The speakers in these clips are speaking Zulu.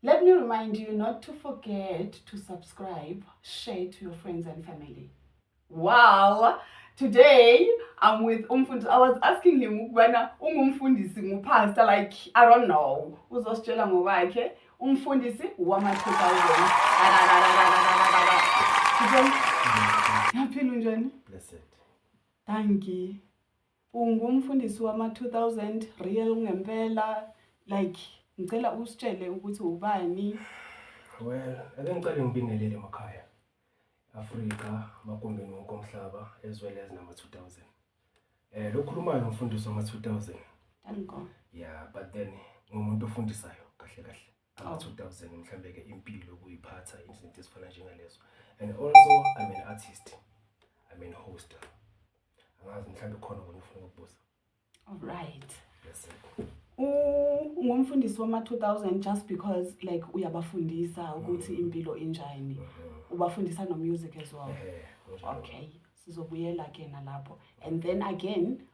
Let me remind you not to forget to subscribe, share to your friends and family. Wow! Today, I'm with Umfundisi. I was asking him ukubana ungumfundisi ngupastor like I don't know. Uzositshela ngokwakhe umfundisi wama 2000. Yaphila unjani? Blessed. Thank you. Ungumfundisi wama 2000 real ungempela like ngicela usitshele ukuthi ubani. Well, ake ngicela ngibingelele emakhaya. Afrika, magumbini wonke omhlaba as well as nama 2000. Eh lokhulumayo umfundisi wama 2000. Thank God. Yeah, but then ngumuntu ofundisayo kahle kahle. About 2000 mhlambe ke impilo ukuyiphatha izinto ezifana njengalezo and also I'm an artist I'm an hoster angazi mhlambe khona kona ufuna ukubuza all right yes sir ungumfundisi wama 2000 just because like uyabafundisa ukuthi mm. impilo injani mm-hmm. ubafundisa no music as well okay sizobuyela ke nalapho and then again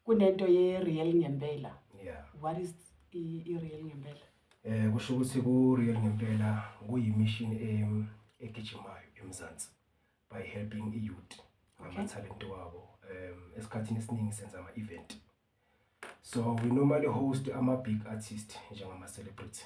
Kunento ye real ngempela. Yeah. What is i, i real ngempela? Eh kusho ukuthi ku real ngempela kuyimishini em egijimayo eMzansi by helping i youth ngama talent wabo. Um esikhathini esiningi senza ama event. So we normally host ama big artist njengama celebrity.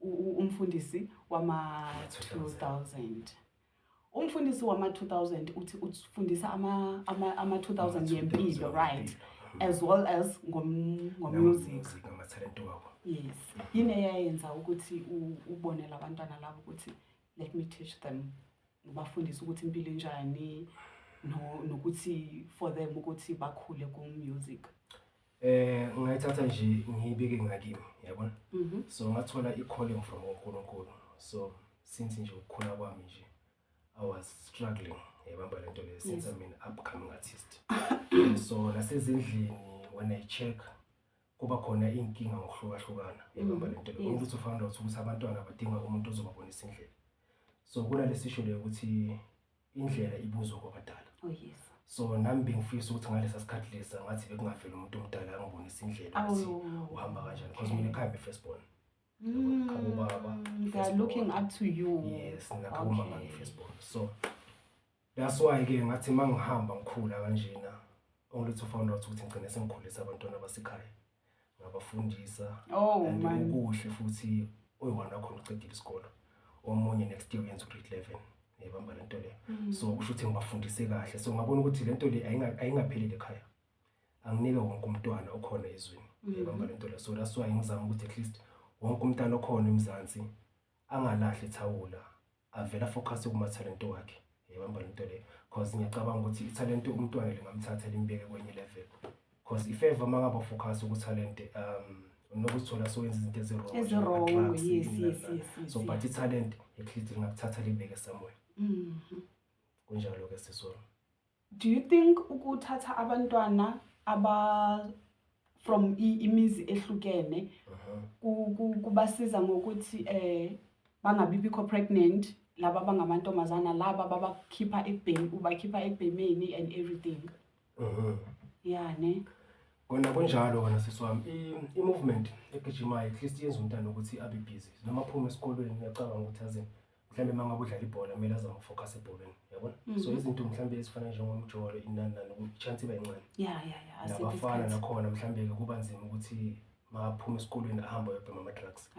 umfundisi wama-2000 umfundisi wama-2000 uthi ufundisa ama-2000 ngempilo right as well as ngomusic yes yini eyayenza ukuthi ubonele abantwana labo ukuthi let me teach them Ngibafundisa ukuthi impilo injani no nokuthi for them ukuthi bakhule ku music. Eh ngayithatha nje ngiyibeke ngakimi yabona. Mhm. So ngathola i-calling from uNkulunkulu. So since nje ukukhula kwami nje I was struggling yayibamba lento le since I'm an upcoming artist. So nasezindlini when I check kuba khona iy'nkinga ngokuhlukahlukana ebamba le nto le umuntu uthi found out ukuthi abantwana badinga umuntu ozobabonisa indlela so kunale sisho leyo ukuthi indlela ibuzwa kwabadala oh, so nami bengifisa ukuthi ngalesa sikhathi lesa ngathi bekungaveli umuntu omdala angibonisa indlela ukuthi uhamba kanjani because mina ekhaya be-first born mm, khabobaba looking up to you yes nakhabomama ngi-first born so That's why ke ngathi mangihamba ngikhula kanjena only to find out ukuthi ngigcine sengikhulisa abantwana basekhaya ngabafundisa oh, and ukuhle futhi oyiwona khona ucedile isikolo omunye next year uyenza ugrade 11 yebamba le nto leyo mm. so kusho ukuthi ngibafundise kahle so ngabona ukuthi le nto le ayingapheleli ekhaya anginike wonke umntwana okhona ezweni mm. yebamba le nto leyo so that's why ngizama ukuthi at least wonke umntana okhona emzansi angalahli ithawula avele afocus kumathalente wakhe yabamba lento le cause ngiyacabanga ukuthi ithalente umntwana lingamthatha limbeke kwenye level cause if ever mangabe focus ukuthalente um unokuzithola sowenza izinto ezirong ezirong yes yes yes so but ithalente ekhithi lingakuthatha limbeke somewhere mhm kunjalo ke sisona Do you think ukuthatha abantwana aba from imizi ehlukene uh-huh. kubasiza ngokuthi eh bangabibikho pregnant laba bangamantombazana laba babakhipha ekubhemi ubakhipha ekubhemeni and everything uh-huh. ya ne kona kunjalo kona sisi wami i-movement egijimayo at least yenza umntana ukuthi abe busy noma aphume esikolweni ngiyacabanga ukuthi aze mhlawumbe uma ngabe udlala ibhola kumele azama ukufocus ebholweni yabona mm -hmm. so mhm. izinto mhlawumbe ezifana njengomjolo inani nani i-chance iba yincane ya ya ya nabafana nakhona mhlawumbe-ke kuba nzima ukuthi maphuma esikolweni ahamba yobhema ama-drugs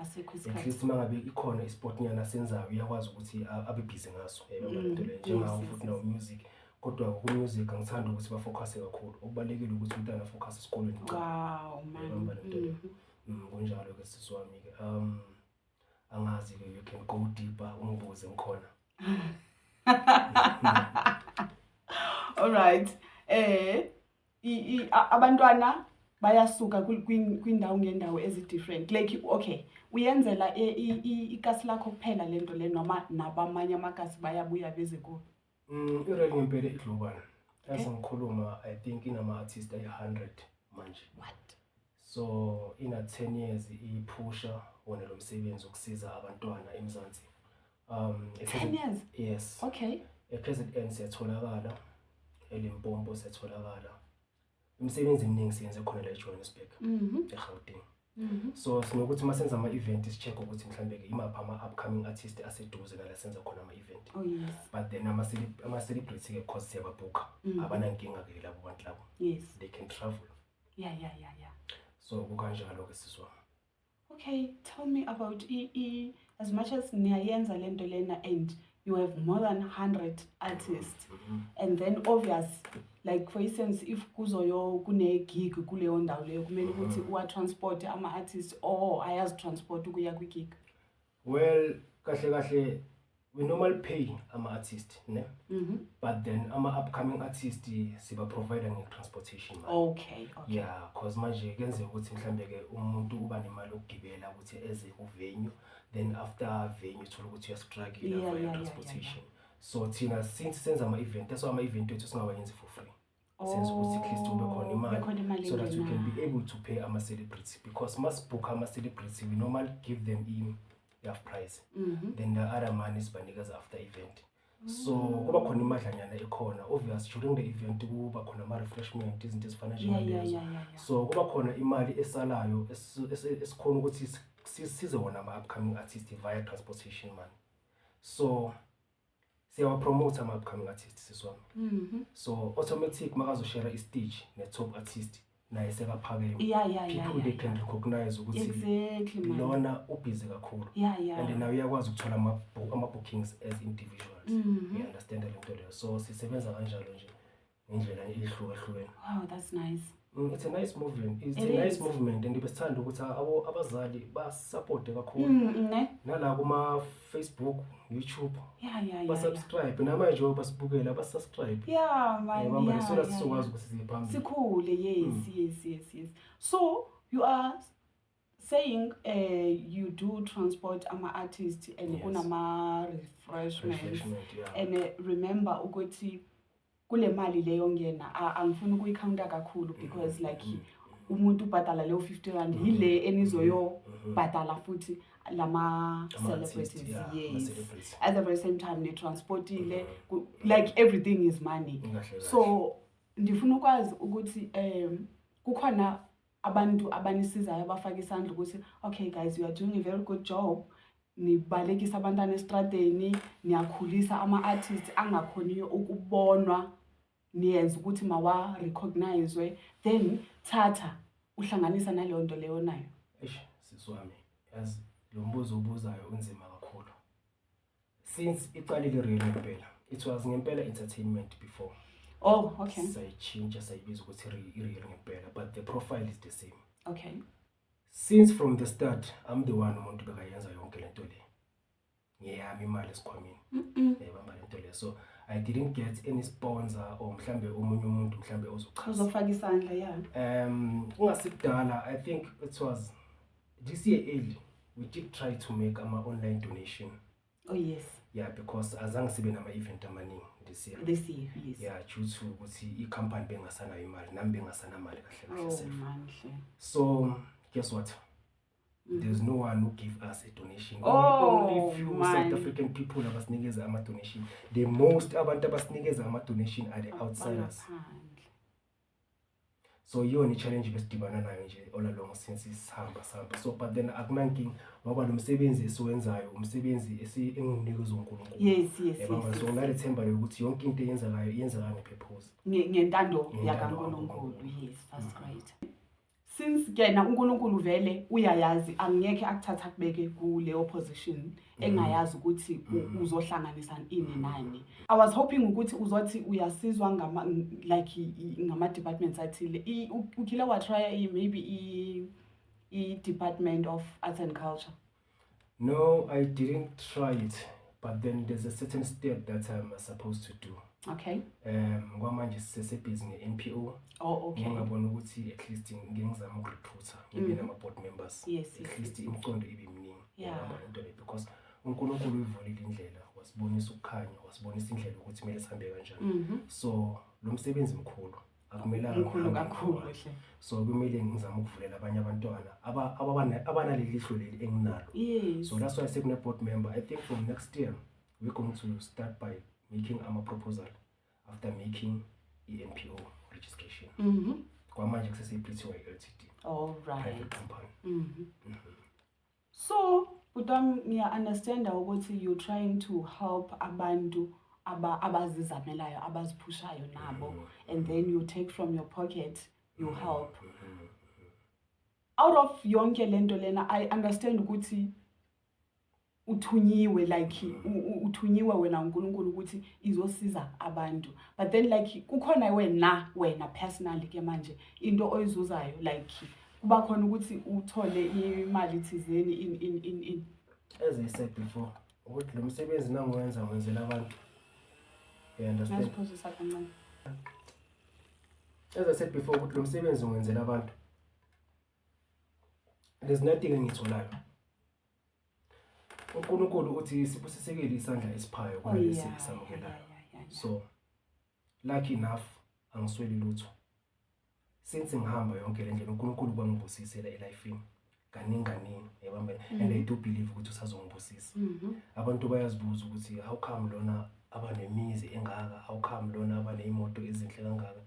at least uma ngabe ikhona isport nyana asenzayo uyakwazi ukuthi abe busy ngaso yayibona mm, lento leyo njengawo futhi nawo music kodwa ku-music angithandi ukuthi bafocuse kakhulu okubalulekile ukuthi umntana afocuse esikolweni wow, man. Mm-hmm. Mm, kunjalo-ke sisi wami-ke um angazi ke you can go deeper umbuze ngikhona all right eh abantwana bayasuka kwindawo ngendawo ezi-different like okay uyenzela ikasi lakho kuphela le nto le noma nabamanye amakasi bayabuya beze kuwe Mm, i-rap ngempela i-global. Yazi ngikhuluma I think inama-artist ayi-100 manje. What? So ina 10 years iphusha wona lo msebenzi ukusiza abantwana eMzansi. Um, at 10 present- years? Yes. Okay. E-present end siyatholakala, eLimpopo siyatholakala. imisebenzi eminingi siyenze khona la ejohannesburg mhm. egauteng mhm. so sinokuthi uma senza ama-event si-check ukuthi mhlawumbe-ke imaphi ama-upcoming artist aseduze nala senza khona ama-event oh, but then ama-celebrity-ke cause siyababhukha mhm. abanankinga-ke labo bantu labo they can travel ya ya ya ya so kukanjalo-ke siswami Okay, tell me about EE. As much as niyayenza le nto lena and you have more than 100 artists and then obvious like for instance if kuzoyo kune-gig kuleyo ndawo leyo kumele ukuthi uwatransporte ama-artists or ayazitransporte ukuya kwi-gig well kahle kahle we normally pay ama-artist ne Mhm. but then ama-upcoming artist sibaprovider nge-transportation manje. okay okay ya cause manje kuyenzeka ukuthi mhlawumbe-ke umuntu uba nemali yokugibela ukuthi eze kuvenue then after venue uthole ukuthi Yeah, uyastruggle yeah, yeah, yeah, transportation so thina since senza ama-event that's why ama-event wethu singawayenzi for free senze ukuthi at least kube khona imali Kube khona imali so that we can engenayo. be able to pay ama-celebrity because masibhukha ama-celebrity we normally give them in half price Mhm. then the other money sibanikeza after event so kuba khona imadlanyana ekhona obvious during the event kuba khona ama-refreshment izinto ezifana Yeah, yeah, njengalezo yeah, yeah, yeah. so kuba khona imali esalayo esi- esi- esikhona ukuthi si- sisize wona ama-upcoming artist via transportation money so siyawa promote ama upcoming artist sisi wami mhm. so automatic makazoshare i stage ne top artist naye sekaphakeme yeah, yeah, people yeah, yeah, they can yeah. recognize ukuthi exactly, lona ubhizi kakhulu yeah, yeah. and nawe uyakwazi ukuthola ama-bookings as individuals mm -hmm. you understand le nto leyo so sisebenza kanjalo nje ngendlela ehlukahlukene wow that's nice mm, it's a nice movement it's It a nice is. movement and besithanda ukuthi abo abazali basupporte kakhulu mm, mm, ne nala kuma Facebook YouTube yeah yeah yeah subscribe namanje basibukela basubscribe yeah man yeah manje sona sizokwazi ukuthi siphambili sikhule yes mm. yes yes yes so you are saying uh, you do transport ama-artist and yes. kunama-refreshments yeah. and uh, remember ukuthi kule mali leyo ngena angifuni ukuyikhawunta kakhulu because mm -hmm. like mm-hmm. umuntu ubhadala leyo 50 rand mm-hmm. yile mm-hmm. enizoyobhadala futhi lama-celebrities yeah, yes at the very same time nitransportile mm -hmm. like everything is money so ndifuna ukwazi ukuthi um kukhona abantu abanisizayo bafake isandla ukuthi okay guys you are doing a very good job nibalekisa abantwana esitradeni niyakhulisa ama-artist angakhoniyo ukubonwa niyenza ukuthi mawa-recognizwe then thatha uhlanganisa naleyo nto leyo nayo eish sisi wami yazi lo mbuzo obuzayo unzima kakhulu since iqalile real ngempela it was ngempela entertainment before oh okay sayitshintsha sayibiza ukuthi real ngempela but the profile is the same okay since from the start i'm the one umuntu bekayenza yonke lento le ngeyami imali esikhwameni yayibamba lento le so i didn't get any sponsor or mhlambe omunye umuntu mhlambe ozochaza uzofaka isandla ya um ungasikudala i think it was this year early we did try to make ama online donation oh yes yeah because azange sibe nama event amaningi this year this year yes yeah due to ukuthi i company bengasanayo imali nami bengasana mali kahle kahle oh, self manhle so guess what mm. there's no one who give us a donation oh, only few man. south african people abasinikeza ama donation the most abantu abasinikeza ama donation are the outsiders Bala, so yiyona i-challenge besidibana nayo nje all along since sihamba sihamba so but then akunankinga ngoba lo msebenzi esiwenzayo umsebenzi engiwunikwe zonkulunkulu yes yes yabona so ngale themba lokuthi yonke into eyenzakayo iyenzeka ngepurpose ngentando yakankulunkulu yes that's mm. right since kena uNkulunkulu vele uyayazi angeke akuthatha akubeke kuleyo position mm. engayazi ukuthi mm. uzohlanganisa ini nani i was hoping ukuthi uzothi uyasizwa ngama like ngama departments athile ukhile watrya maybe i department of arts and culture No, I didn't try it, but then there's a certain step that I'm supposed to do. Okay. Um, kwamanje sisebhizi nge-NPO. Oh, okay. Ngingabona ukuthi at least ngingizama ukurephutha ngibe mm. nama-board members. Yes. At least imicondo ibe miningi. Yeah. Into le because uNkulunkulu uyivulile indlela, wasibonisa ukukhanya, wasibonisa indlela ukuthi kumele sihambe kanjani. Mm-hmm. So, lo msebenzi mkhulu. akumelanga Mkhulu uhambe kakhulu ngedwa. hle. so kumele ngizame ukuvulela abanye abantwana aba- ababana- abanaleli ihlo leli enginalo Yes. so that's why sekune-board member i think from next year we're going to start by making ama-proposal after making i-mpo registration Mhm. kwamanje kusese-pty ltd All right. private company Mhm. So bhuti wami ngiya-understanda ukuthi you trying to help abantu aba abazizamelayo abaziphushayo nabo and then you take from your pocket you help out of yonke le nto lena i understand ukuthi uthunyiwe like uthunyiwe wena uNkulunkulu ukuthi izosiza abantu but then like kukhona wena wena personally ke manje into oyizuzayo like kuba khona ukuthi uthole imali thizeni in in in in as i said before ukuthi lo msebenzi nangiwenza ngenzela abantu you understand nasiphuzisa kancane as i said before ukuthi lo msebenzi ngenzela abantu there's nothing engitholayo uNkulunkulu uthi sibusisekile isandla esiphayo kunalesi oh, esamukelayo so Lucky enough angisweli lutho. Since ngihamba yonke le ndlela uNkulunkulu kwangibusisela elifini kaningi kaningi yabambela mm. and I do believe ukuthi usazongibusisa. Mm -hmm. Abantu bayazibuza ukuthi how come lona abanemizi engaka, how come lona abaneyimoto ezinhle kangaka.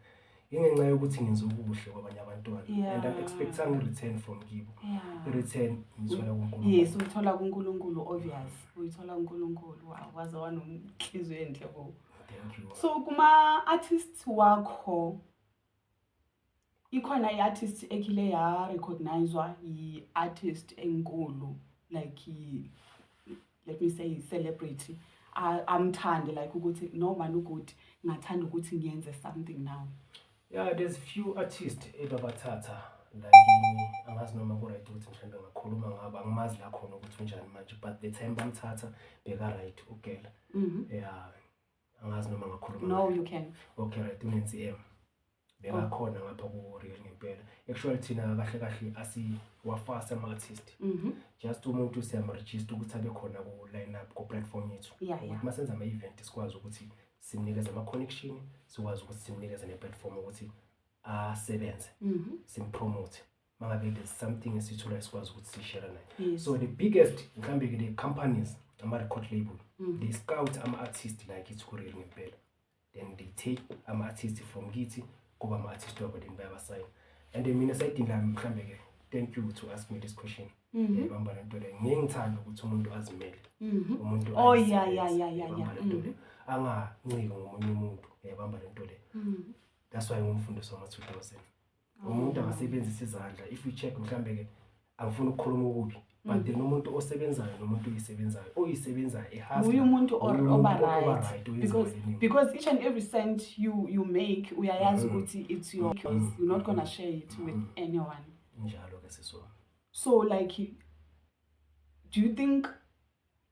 Ingenxa yokuthi ngenza okuhle kwabanye abantwana yeah. and I'm expecting a return from kibo. Yeah. I return ngithola kuNkulunkulu. Yes, uthola kuNkulunkulu obvious. Uyithola kuNkulunkulu. Wow, waze wanenhliziyo enhle bo. so kuma-artist wakho ikhona i-artist ekhile yarecognizwa yi-artist enkulu like let me say celebrity amthande like ukuthi no mani ukuthi ngathanda ukuthi ngiyenze something now Yeah, there's few artists ebabathatha la kimi angazi noma ku-right ukuthi mhlawumbe ngakhuluma ngabo angimazi la khona ukuthi unjani manje but the time bamthatha beka-right ugela mhm. ya angazi noma ngakhuluma no you can okay right unensi m bekakhona oh. ngapha ku-real ngempela actually thina kahle kahle asiwafasi ama-artist mhm. just umuntu siyamrejista ukuthi abe khona ku-line up ku-platform yethu ukuthi uma senza ama-event sikwazi ukuthi simnikeze ama-connection sikwazi ukuthi simnikeze ne-platform ukuthi asebenze mhm. simpromote uma ngabe there's something esitholayo sikwazi ukuthi sishare naye so the biggest mhlawumbe-ke le-companies ama-record label mhm. they scout ama-artist like ithi kureli ngempela then they take ama-artist from kithi kuba ama artist wabo then bayabasayina and mina sayidinga mhlambe ke thank you to ask me this question mhm. eh, bamba lento le ngeke ngithanda ukuthi umuntu azimele mhm. umuntu oh yeah yeah yeah yeah yeah mhm. anganciki ngomunye umuntu yabamba eh, lento le that's why ngumfundisi wama 2000 umuntu angasebenzisa izandla if you check mhlambe ke angifuni ukukhuluma okubi but mm. then umuntu osebenzayo nomuntu oyisebenzayo oyisebenzayo ehasbuye umuntu oba right because each and every cent you, you make uyayazi mm. ukuthi it's your because mm. you're not gonna share it with anyone njalo ke sisona so like do you think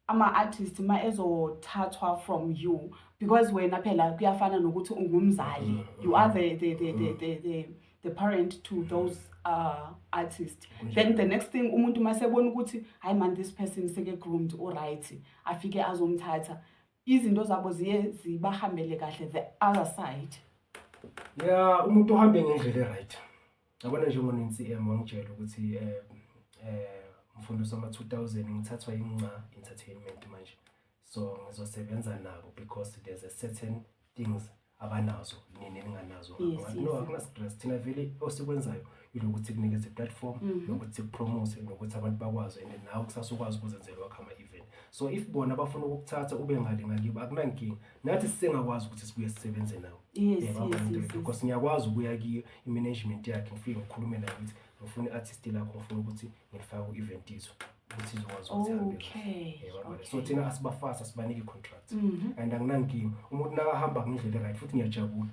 ama-artist uma ezothathwa from you because wena phela kuyafana nokuthi ungumzali mm, you mm. are the, the, the, the, mm. the, the, the parent to those uh, artist then the next thing umuntu uma sebona ukuthi hayi man this person seke-groomed uright afike azomthatha izinto zabo ziye zibahambele kahle the other side ya umuntu uhambe ngendlela e-right Yabona njengoNCM wangitshela ukuthi eh eh mfundisi wama-2000 ngithathwa yinca entertainment manje so ngizosebenza nabo because there's a certain things abanazo nini ninganazo no akunastress thina vele osikwenzayo ilokuthi kunikeze platform mhm. nokuthi kupromote nokuthi abantu bakwazi and nawe kusasa ukwazi ukuzenzela wakho ama-event so if bona bafuna ukukuthatha ube ngale ngakibo akunankinga nathi sisengakwazi ukuthi sibuye sisebenze nawo because ngiyakwazi ukuya kiyo i-management yakhe ngifike ngikhulume nayo ukuthi ngifuna i-artist lakho ngifuna ukuthi ngifake ku-event izo ukuthi izokwazi ukuthi so thina asibafasi asibaniki i-contract mhm. and anginankinga umuntu nakahamba ngendlela right futhi ngiyajabula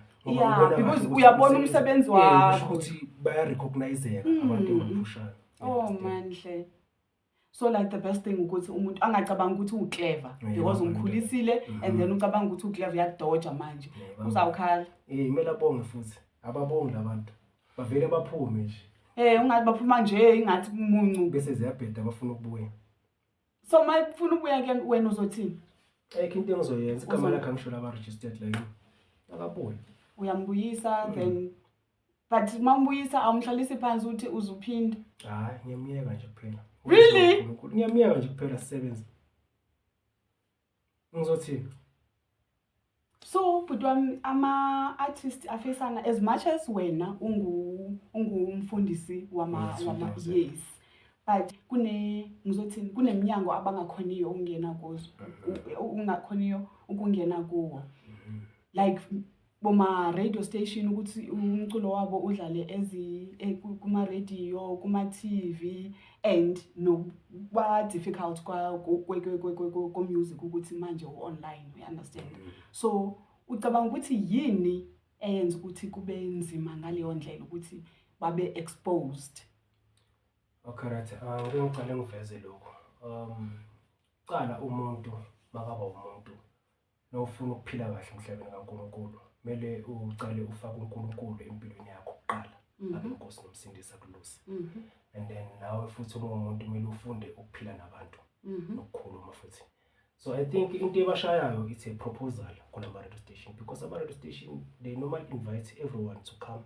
because uyabona umsebenzi wakho ukuthi bayarecogniseka abantu mm. engaphushayo oh manhle so like the best thing ukuthi umuntu angacabanga ukuthi uclever because umkhulisile and mm-hmm. then ucabanga ukuthi uclever uyadoja manje uzawukhala eh kumele abonge futhi ababongi labantu bavele baphume nje eh ungathi baphuma nje ingathi umuncu bese ziyabheda bafuna ukubuya so mayifuna ukubuya ke wena uzothini ayikho into engizoyenza igama lakhe angisho laba registered la yini akabuye uyambuyisa then mm. but uma umbuyisa awumhlalisi phansi uthi uzuphinda hayi ngiyamyeka nje kuphela really ngiyamyeka nje kuphela sisebenze ngizothini so bhuti wami ama-artist afesana as much as wena ungumfundisi wama yes but kune ngizothini kuneminyango abangakhoniyo ukungena kuzo ungakhoniyo ukungena kuwo mm-hmm. like boma-radio station ukuthi umculo wabo udlale eh, kuma-radio kuma-tv and nokuba-difficult ko-music ukuthi manje u-online uyi-understand mm. so ucabanga ukuthi yini eyenza ukuthi kube nzima ngaleyo ndlela ukuthi babe exposed okay right uh, ah, ngicela ngiveze lokho um qala umuntu makaba umuntu Mawufuna ukuphila kahle emhlabeni kaNkulunkulu, kumele ucale ufake uNkulunkulu empilweni yakho kuqala, Mhm. abe uNkosi nomsindisi akuluse. Mhm, And then nawe futhi uma umuntu kumele ufunde ukuphila nabantu mhm. nokukhuluma futhi. So I think into ebashayayo it's a proposal kulama radio station because ama radio station they normally invite everyone to come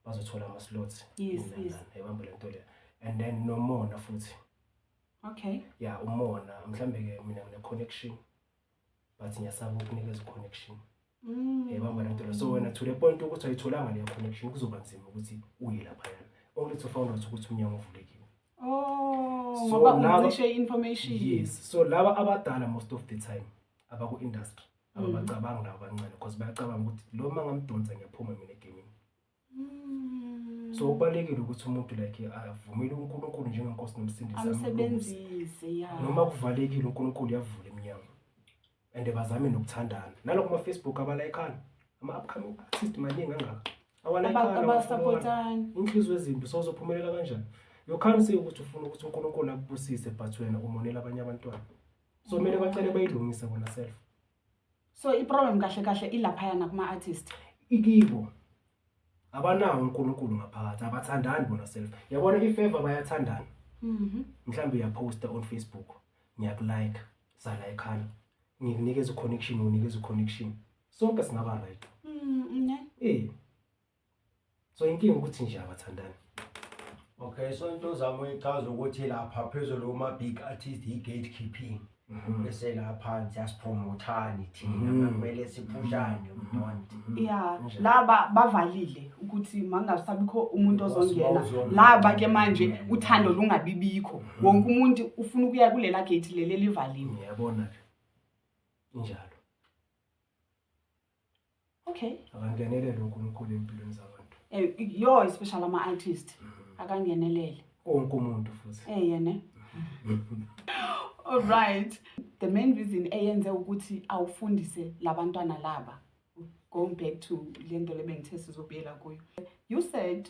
bazothola ama slots. Yes, in yes. London. Yayibamba le nto le. And then nomona futhi. Okay. Yeah, umona mhlambe ke mina ngine connection but ngiyasaba ukunikeza connection mm. yayibamba lento la so wena to the point ukuthi ayitholanga leyo connection kuzoba nzima ukuthi uye lapha yana only to found out ukuthi umnyango uvulekile oh ngoba uncishe information yes so laba abadala most of the time abaku industry ababacabangi mm. laba abancane because bayacabanga ukuthi lo mangamdonsa ngiyaphuma mina egamini Mm. So ubalekile ukuthi umuntu like avumele uNkulunkulu njengenkosi nomsindisi amsebenzise ya. Noma kuvalekile uNkulunkulu yavula iminyango. And bazame nokuthandana. Nalo kuma Facebook abalayikana. Ama upcoming artist maningi angaka. Awalayikana. Abasupportana. Inhliziyo ezimbi so uzophumelela kanjani? You can't say ukuthi ufuna ukuthi uNkulunkulu akubusise but wena umonela abanye abantwana. So kumele bacele bayilungise bona self. so iproblem kahle kahle ilaphayana kuma-artist ikibo abanawo unkulunkulu ngaphakathi abathandani bona self yabona ifeva bayathandana Mhm. mhlawumbe uyaposta on facebook ngiyakulike salayikhana ngikunikeza uconnection unikeza uconnection sonke singaba right Mm, ne? eh so inkinga ukuthi nje abathandani okay so into zami uyichaza ukuthi lapha phezulu kuma big artist i gatekeeping mhm. bese la phansi asipromothani thina mhm. kumele siphushane udonti mhm. ya laba bavalile ukuthi mangasabikho umuntu ozongena laba ke manje uthando lungabibikho wonke umuntu ufuna ukuya kulela gate leli livaliwe yabona ke njalo okay akangenelele uNkulunkulu empilweni zabantu eh yo especially ama artist mm. akangenelele wonke umuntu futhi eh yena all right the main reason eyenze ukuthi awufundise labantwana laba going back to lento lebengithe sizobuyela kuyo you said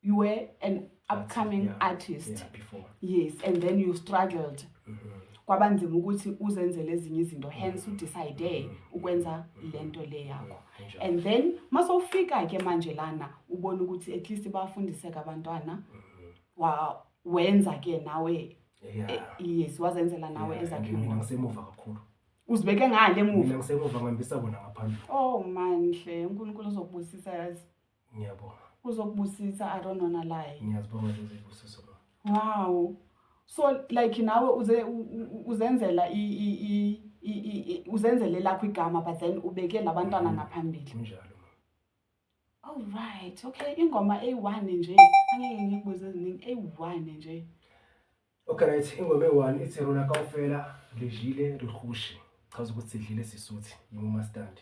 you were an upcoming yeah, artist yeah, before. yes and then you struggled mm -hmm. kwabanzima ukuthi uzenzele ezinye izinto mm-hmm. hence udecide mm -hmm. ukwenza mm-hmm. le nto le yakho mm -hmm. and then masowufika ke manje lana ubona ukuthi at least bafundiseka abantwana mm -hmm. wa wenza ke nawe yeah. Eh, yes wazenzela nawe yeah, ezakhe mina ngisemuva kakhulu uzibeke ngale emuva mina ngisemuva ngihambisa bona ngaphambili oh manhle uNkulunkulu uzokubusisa yazi Ngiyabonga. Uzokubusisa Aaron wona laye. Ngiyazibonga lezi zibusiso mama. Wow. So like nawe uze uzenzela i i i uzenzele lakho igama but then ubeke labantwana mm-hmm. ngaphambili. Kunjalo. All right. Okay, ingoma A1 nje. Angeke ngikubuze eziningi A1 nje. Okay right, ingoma eyi-one ithi rona kaofela re jile re kgoshe. Chaza ukuthi sidlile sisuthi yimumastandi.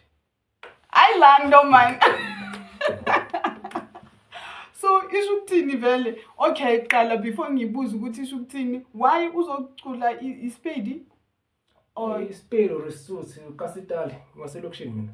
Hayi la nto mani. so isho ukuthini vele okay qala before ngibuze ukuthi isho ukuthini why uzocula i- ispedi or Isipelo resuthi kasitali ngaselokishini mina.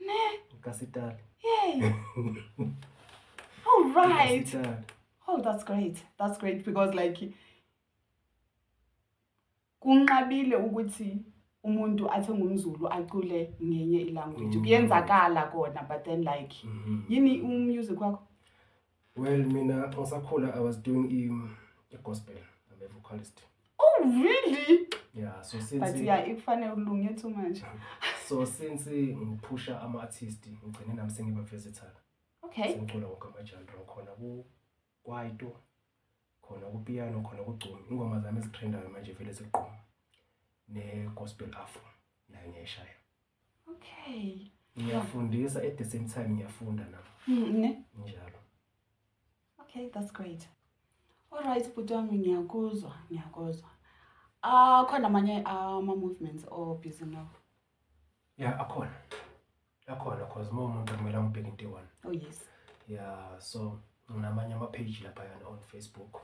Ne. Ukasitali. Yay. All right. Ukasitali. Oh, that's great. That's great because like kunqabile ukuthi umuntu athi ngumzulu acule ngenye ilanguage mm. kuyenzakala kona but then like mm-hmm. yini umusic wakho Well mina ngisakhula I was doing im the gospel. I'm a vocalist. Oh really? Yeah, so since But yeah, ikufanele ulunge too much. so since ngiphusha ama artist ngigcine nami sengiba versatile. Okay. Sengicula wonke ama genre ngikhona ku kwaito khona kupiyano khona kugcumi ingoma zami ezitrendayo manje vele zigquma ne-gospel afro nayo ngiyayishaya okay ngiyafundisa at the same time ngiyafunda na mm, ne njalo okay that's great all right bhuti wami ngiyakuzwa ngiyakuzwa akhona ah, amanye ama-movements obhizi nawo ya akhona akhona cause uma umuntu akumele amubheke into eyi-one oh yes ya so nginamanye ama-page laphayana on facebook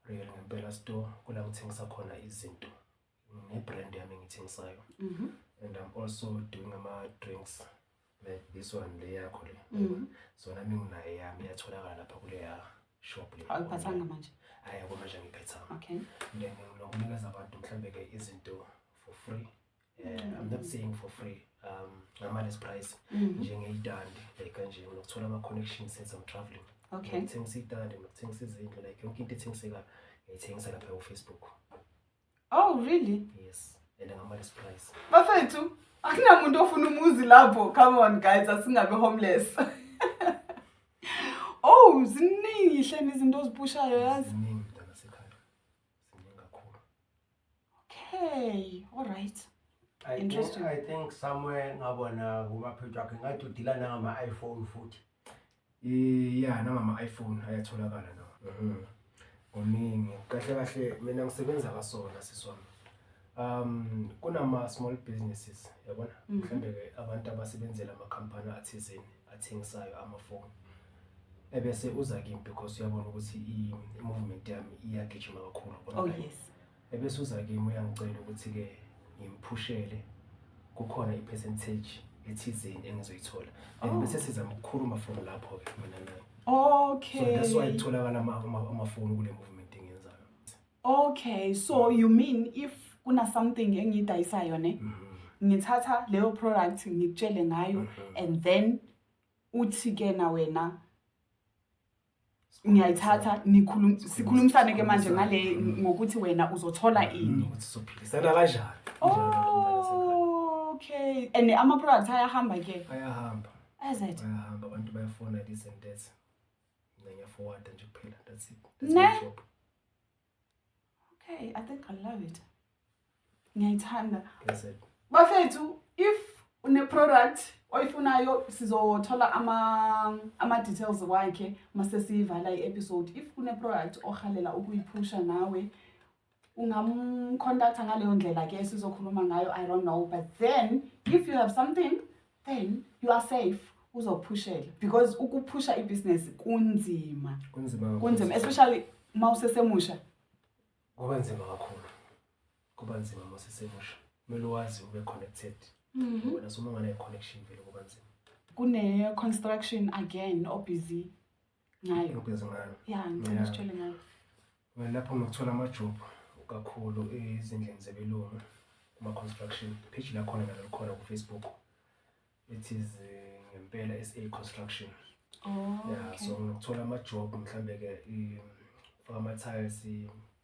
real ngempela store kula ngithengisa khona izinto ne-brand yami engithengisayo mhm. and i'm also doing ama-drinks like this one le yakho le mhm. so nami nginayo yami iyatholakala lapha kuleya shop le awuyiphathanga manje hayi akumanje ngiphethanga okay then nginokunikeza abantu mhlawumbe-ke izinto for free Eh, I'm not saying for free um ngamaless price mm. njengeyitandi like kanje unokuthola ama-connection since I'm traveling okay ngithengisa iyitandi ngithengisa izindlu like yonke into ethengisekayo ngiyithengisa lapha kufacebook oh really yes and ngamaless price bafethu akunamuntu ofuna umuzi lapho come on guys asingabe homeless oh ziningi hleni izinto ozipushayo yazi Siningi kakhulu. Okay, all right. I Interesting. think, I think somewhere ngabona kumaphethu akhe ngathi udila nangama-iphone futhi Eh, ya nangama iPhone ayatholakala nawo. Oningi. Kahle kahle mina ngisebenza kasona siswami. um kunama small businesses yabona Mhm. mhlawumbe ke abantu abasebenzela amakhampani athizeni athengisayo amafoni ebese uza kimi because uyabona ukuthi i- i-movement yami iyagijima kakhulu Oh online. yes. ebese uza kimi uyangicela ukuthi-ke ngimphushele kukhona i-percentage ethizeni engizoyithola Oh. and bese sizama ukukhuluma from lapho-ke mina naye so Okay. that's why kutholakala ama- ama- amafoni kule movement engiyenzayo Okay, so you mean if kuna something engiyidayisayo ne? Mm -hmm. ngithatha leyo product ngikutshele ngayo mhm. and then uthi ke na wena ngiyayithatha nikhulum sikhulumisane ke manje ngale mhm. ngokuthi wena uzothola mhm. ini ukuthi sophilisana kanjani okay and ama products ayahamba ke ayahamba ayahamba abantu bayafona this and that Ngiyafowada nje kuphela that's it. That's my job. Okay, I think I love it. Ngiyayithanda. That's it. Bafethu, if une product oyifunayo sizothola ama ama details wakhe mase siyivala i episode. If kune product ohalela ukuyiphusha nawe ungamcontacta ngaleyo ndlela ke sizokhuluma ngayo i don't know but then if you have something then you are safe uzophushela because ukuphusha ibhizinesi kunzima kunzima kunzima especially uma usesemusha kuba nzima kakhulu kuba nzima uma usesemusha kumele wazi ube connected mhm. wena soma unganayo connection vele kuba nzima kune-construction again obusy ngayo ubhizi ngayo ya ngicela usitshele ngayo lapho ngikuthola amajobhu kakhulu ezindlini zebelungu kuma-construction page lakhona nalo likhona kufacebook it is eh, ngempela sa construction oh, ya so ngikuthola amajobhu mhlawumbe-ke faka ama-tiles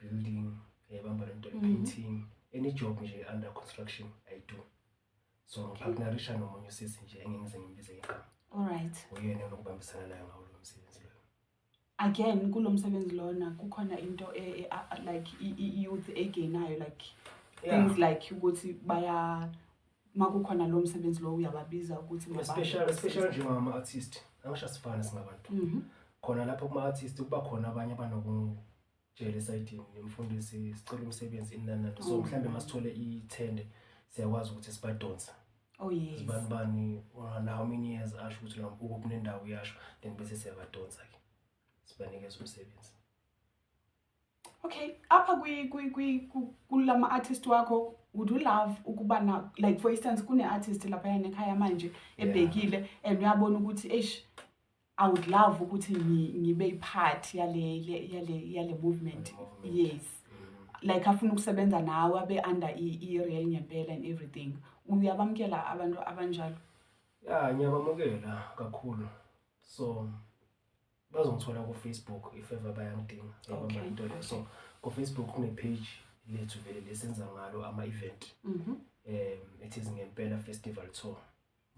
building yayibamba lento le-painting mhm. any job nje under construction i do so ngipartnerisha nomunye usisi nje engeke ngize ngimbize igama alright uyena onokubambisana nayo ngawo lo msebenzi loyo again kulo msebenzi lona kukhona into e, e, a- a- like i- i- youth egainayo like Yeah. things like ukuthi baya makukhona lo msebenzi lo uyababiza ukuthi mababe especially assist. especially nje ngama artist angisho asifana singabantu Mhm. khona lapho kuma artist kuba khona abanye abanoku jele esayidini nemfundisi sicela umsebenzi inanani so mhlawumbe masithole ithende siyakwazi ukuthi sibadonse Oh yes. Sibani bani ona how many years asho ukuthi lo mbuko kunendawo uyasho then bese siyabadonsa ke. Sibanikeza umsebenzi. Okay, apha kwi kwi kwi kulama artist wakho would you love ukuba na like for instance kune artist lapha yana ekhaya manje ebhekile and uyabona ukuthi eish I would love ukuthi ngibe ipart yale yale yale movement yes like afuna ukusebenza nawe abe under i real ngempela and everything uyabamkela abantu abanjalo ya ngiyabamukela kakhulu so bazongithola ku Facebook if ever bayangidinga okay. into leyo so ku Facebook kune page lethu vele lesenza ngalo ama event mhm mm um it is ngempela festival tour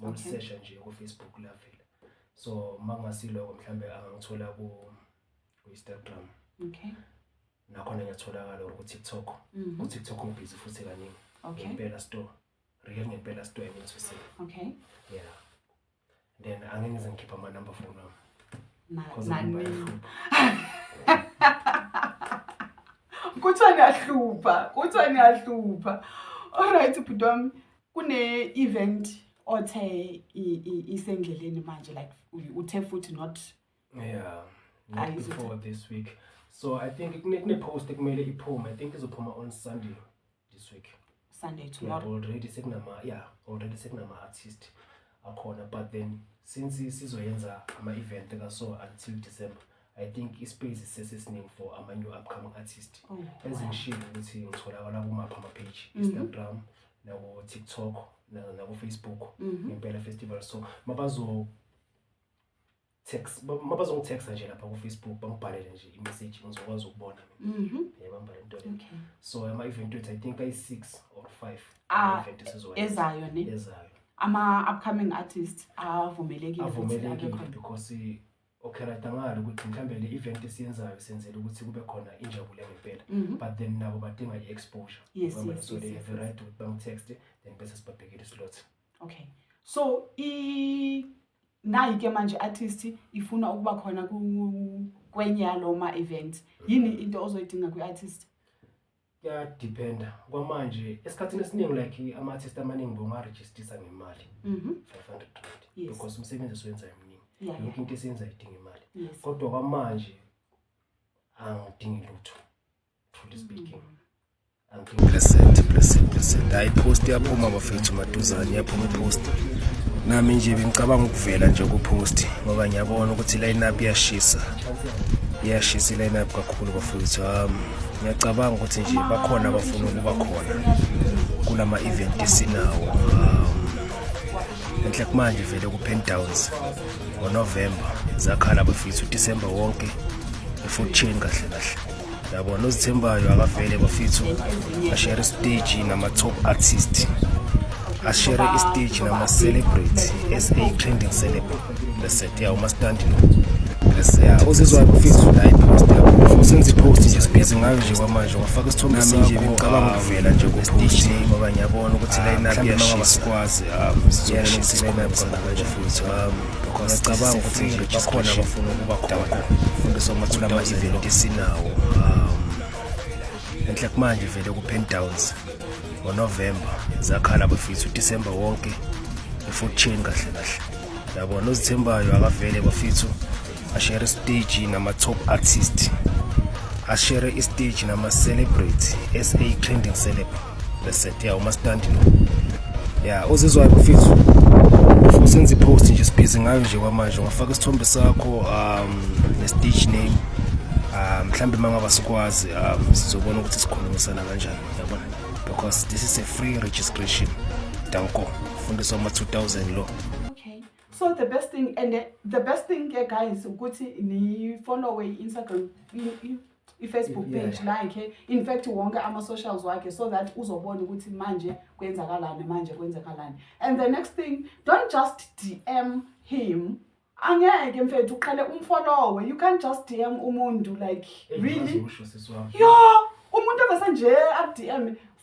ngisesha nje ku Facebook la vele so makungasiloko mhlambe angangithola ku ku Instagram okay nakhona ngiyatholakala or ku TikTok mhm. ku TikTok ngibhizi futhi kaningi okay impela store real ngempela store and to say okay yeah then angeke ngize ngikhipha ama number phone wami kuthiwa niyahlupha kuthiwa niyahlupha all right bhuti wami Kune-event othe isendleleni manje like uthe futhi not yeah not before this week so i think kune-post ekumele iphume i think izophuma on sunday this week sunday tomorrow yeah, already sekunama yeah already sekunama-artist akhona but then since sizoyenza ama-event kaso until december i think ispace sisesesiningi for ama-new upcoming artist oh, ezingishilo ukuthi ngitholakala kumaphi amapage mhm. instagram naku-tiktok nakufacebook mhm. ngempela festival so mabazo text mabazongitexa nje lapha kufacebook bangibhalele nje imessage ngizokwazi ukubona mhm. yeah, bambhale into le okay. so ama-event wethu i think ayi-six or five ah, ezayo ne ezayo ama-upcoming artist avumelekile because okheradangala ukuthi mhlawumbe le event esiyenzayo senzela ukuthi kube khona injabulo yangempela mhm. but then nabo badinga i-exposure yes, yes, so yes, they have the right to bangitext then bese sibabhekile islot okay so i nayi ke manje artist ifuna ukuba khona ku- kwenye yaloma event yini into ozoyidinga kwi-artist kuyadependa kwamanje esikhathini esiningi like ama-artist amaningi bongarejistisa ngemali Mhm. 500 rand Yes. because umsebenzi esiwenzayo mningi Yeah, yonke yeah. into esiyenzayo idinga imali yes kodwa kwamanje angidingi lutho truly speaking blessed blessed blessed hayi post yaphuma bafethu maduzane yaphuma post nami nje bengicabanga ukuvela nje kupost ngoba ngiyabona ukuthi line up iyashisa iyashisa iline up kakhulu bafethu um ngiyacabanga ukuthi nje bakhona abafuna ukuba khona kulama event esinawo um enhle kumanje vele ku Pen Downs ngoNovember zakhala bafethu uDecember wonke ifood chain kahle kahle yabona ozithembayo akavele bafethu ashere isiteji nama-top artist ashere isiteji nama-celebrity as a trending celebrity reset ya umastandi lo ya uzizwayo bafethu layipo senza ipost nje sibhizi ngayo nje kwamanje wafaka isithombe sinje ngicabanga ukuvela nje kupost ngoba ngiyabona ukuthi layinaphi yena ngabasikwazi um sizokwenza isinqumo futhi um ngiyacabanga ukuthi bakhona abafuna ukuba khona fundisa amathula ama-event esinawo um enhle kumanje vele ku-pen downs ngonovemba zakhala bafisa udisemba wonke i-food chain kahle kahle yabona ozithembayo akavele bafithu ashere stage nama top artist ashere istage nama celebrity SA trending celeb bese ya uma stand lo ya uzizwa kufizu usenza ipost nje sibhizi ngayo nje kwamanje ungafaka isithombe sakho um ne stage name um mhlambe mangaba sikwazi um sizobona ukuthi sikhulumisana kanjani yabona because this is a free registration danko fundiswa ama 2000 lo so the best thing and the, the best thing ke guys ukuthi nifollowe i-instagram i-facebook Yeah. page lakhe in fact wonke ama-socials wakhe so that uzobona ukuthi manje kwenzakalani manje kwenzakalani and the next thing don't just dm him angeke mfethu uqale umfollowe you can't just dm umuntu like really Usho sisi wami. yo umuntu avese nje akudm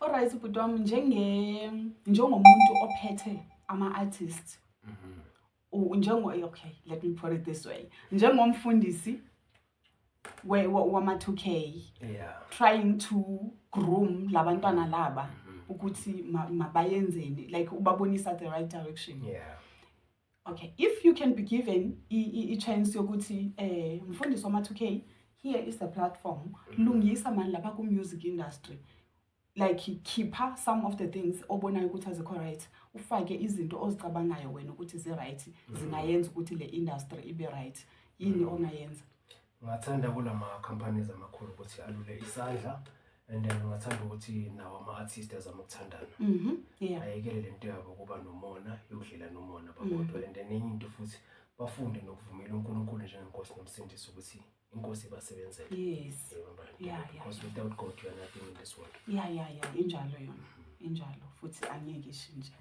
Alright bhuti wami njenge njengomuntu ophethe ama artist. Mhm. U- Njengo eh, okay, let me put it this way. Njengomfundisi we- wa- wama 2K Yeah. trying to groom labantwana laba Mhm. ukuthi ma- mabayenzeni like ubabonisa the right direction. Yeah. Okay, if you can be given i-chance yokuthi eh mfundisi wama 2K here is the platform mm-hmm. lungisa mani lapha ku music industry like khipha some of the things obonayo ukuthi azikho right ufake izinto ozicabangayo wena ukuthi zi right mm-hmm. zingayenza ukuthi le industry ibe right yini mm-hmm. ongayenza Ngathanda kulama companies amakhulu ukuthi alule isandla and then ngathanda ukuthi nawo ama-artist azama ukuthandana mhm, ayekele le nto yabo kuba nomona yokudlela nomona babodwa mhm. and then enye into futhi bafunde nokuvumela unkulunkulu njengenkosi nomsindisi ukuthi inkosi ibasebenzele yes yeah, because yeah. without god you are nothing in this world ya ya ya injalo yona mhm. injalo futhi angeke ishintshe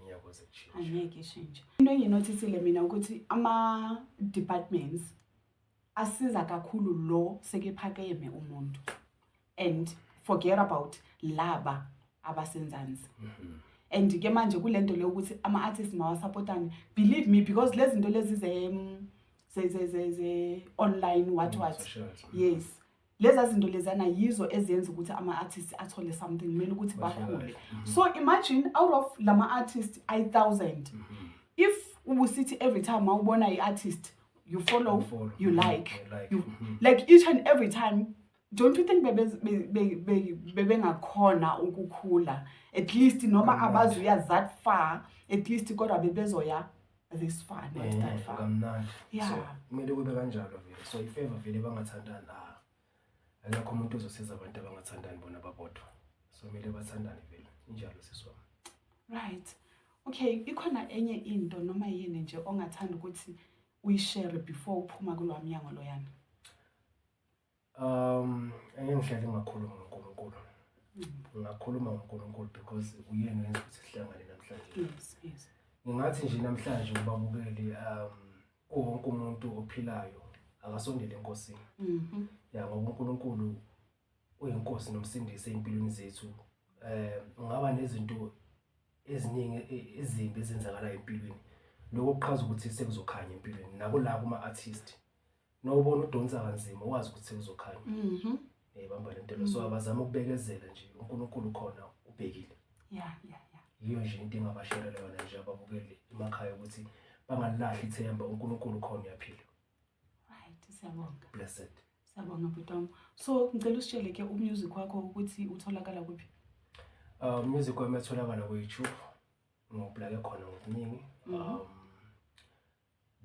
angeke ishintshe into enginothithile mina ukuthi ama-departments asiza kakhulu lo sekephakeme umuntu and forget about laba abasenzansi mm -hmm. and ke manje kulento le ukuthi ama artists mawasupportane believe me because lezi zinto lezi ze ze ze ze online what what yes leza zinto lezana yizo eziyenza ukuthi ama-artist athole something kumele ukuthi bakhule mhm. so imagine out of lama-artist ayi-thousand mhm. if ubusithi every time mawubona i-artist you follow, you, follow. you like, you like. You, mhm. like each and every time don't you think bebengakhona ukukhula at least noma abazuya that far at least kodwa bebezoya this far not Eh, that far kamnandi Yeah. so kumele kube kanjalo vele so if ever vele bangathandani ah akekho umuntu ozosiza abantu abangathandani bona babodwa so kumele bathandane vele injalo sisi wami right okay ikhona enye into noma yini nje ongathanda ukuthi uyishare before uphuma kulwa mnyango loyana Um enye indlela engakhuluma ngoNkulunkulu. Ngakhuluma ngoNkulunkulu because uyena wenza ukuthi sihlangane namhlanje. Yes, yes. Ngingathi nje namhlanje ubabukeli um kuwonke umuntu ophilayo akasondele enkosini. Mhm. Ya ngoba uNkulunkulu uyinkosi nomsindisi empilweni zethu. Eh ungaba nezinto eziningi e- ezimbi ezenzakalayo empilweni. Lokho kuchaza ukuthi sekuzokhanya empilweni nabo la kuma artist. nobona udonsa kanzima wazi ukuthi uzokhanya mhm ebamba eh, lento lo so mm. abazama ukubekezela nje uNkulunkulu khona ubhekile ya ya ya yiyo nje into engabasherela yona nje ababukeli emakhaya ukuthi bangalilahli ithemba uNkulunkulu khona uyaphila right siyabonga blessed siyabonga bhutam so ngicela usitshele ke umusic wakho ukuthi utholakala kuphi uh music wami etholakala ku YouTube ngoblake khona ngokuningi mhm. um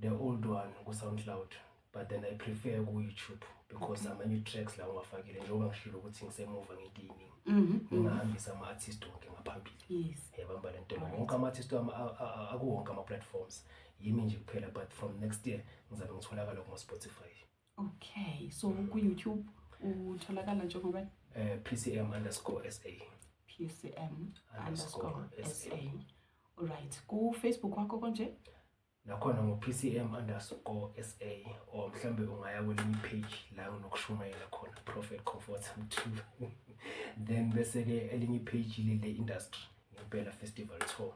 the old one ku SoundCloud but then I prefer ku YouTube because okay. amanye tracks la ungafakile njengoba ngishilo ukuthi ngisemuva ngento eyiningi mhm. ngingahambisa ama artist wonke ngaphambili yes yabamba lento wonke ama artist wami akuwonke ama platforms yimi nje kuphela but from next year ngizabe ngitholakala kuma Spotify okay so ku-youtube utholakala njengoba eh, pcm underscore sa pcm underscore sa olright kufacebook wakho konje nakhona ngo-pcm underscore sa or mhlawumbe ungaya kwelinye ipage la nginokushumayela khona prophet comfort mthulu then bese-ke elinye ipage lile industry ngempela festival tour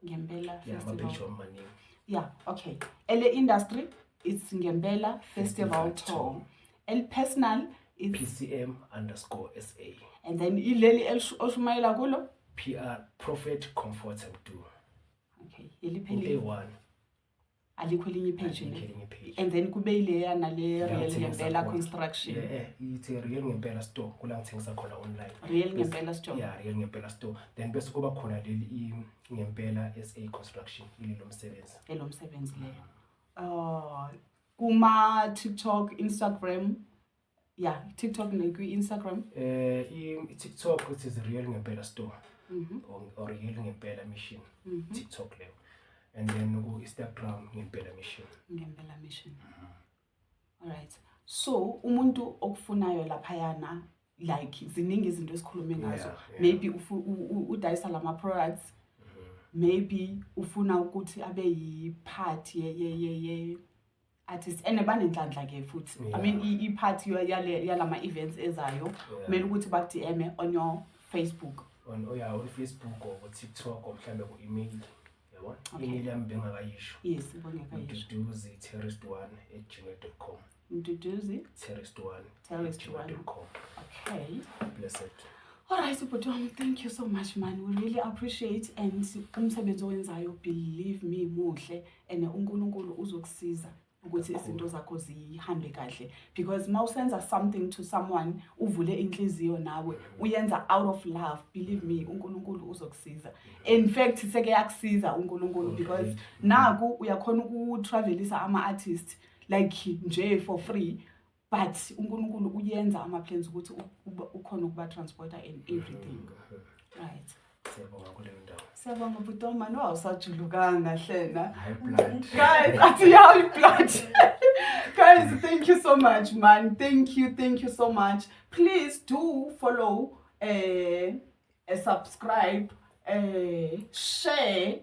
ngempela yeah, festival maningi yeah okay ele industry it's ngempela festival tour el personal it's pcm underscore sa and then ileli oshumayela kulo pr prophet comfort and do okay eliphelile one alikho elinye ipage Alikho elinye ipage. and then kube ileya nale real Ngiyangithengisa ngempela khona. construction Yeah, eh, ithi real ngempela store kula ngithengisa khona online real ngempela store yeah real ngempela store then bese kuba khona leli i- ngempela sa construction ililo msebenzi elo msebenzi leyo oh kuma tiktok instagram ya tiktok nakwi-instagram um i-tiktok it is real ngempela store mhm. or, or real ngempela mission mhm. tiktok leyo and then ku-instagram ngempela mission ngempela mission mhm. alright so umuntu okufunayo laphayana like ziningi izinto esikhulume ngazo yeah, yeah. maybe udayisa la ma-products maybe ufuna ukuthi abe yi-part artist and banenhlanhla ke futhi yeah. i mean iphathi yalama events ezayo kumele yeah. ukuthi bakudm on your facebook on oh yeah on facebook or ku tiktok or mhlambe ku email yabo okay. email yami bengakayisho yes bengakayisho duduzi terrorist one at gmail.com duduzi terrorist one terrorist one okay blessed Alright, ubhuti wami, thank you so much man. We really appreciate and umsebenzi owenzayo believe me muhle. and uNkulunkulu uzokusiza ukuthi izinto zakho zihambe kahle because uma usenza something to someone uvule inhliziyo nawe uyenza out of love believe me uNkulunkulu uzokusiza in fact seke yakusiza uNkulunkulu because naku uyakhona ukutravelisa ama artists like nje for free but uNkulunkulu uyenza ama plans ukuthi ukhona ukuba transporter and mm-hmm. everything right siyabonga kule ndawo siyabonga bhuti omani wawusajulukanga hlena guys athi yawo iblood guys thank you so much man thank you thank you so much please do follow eh uh, subscribe eh uh, share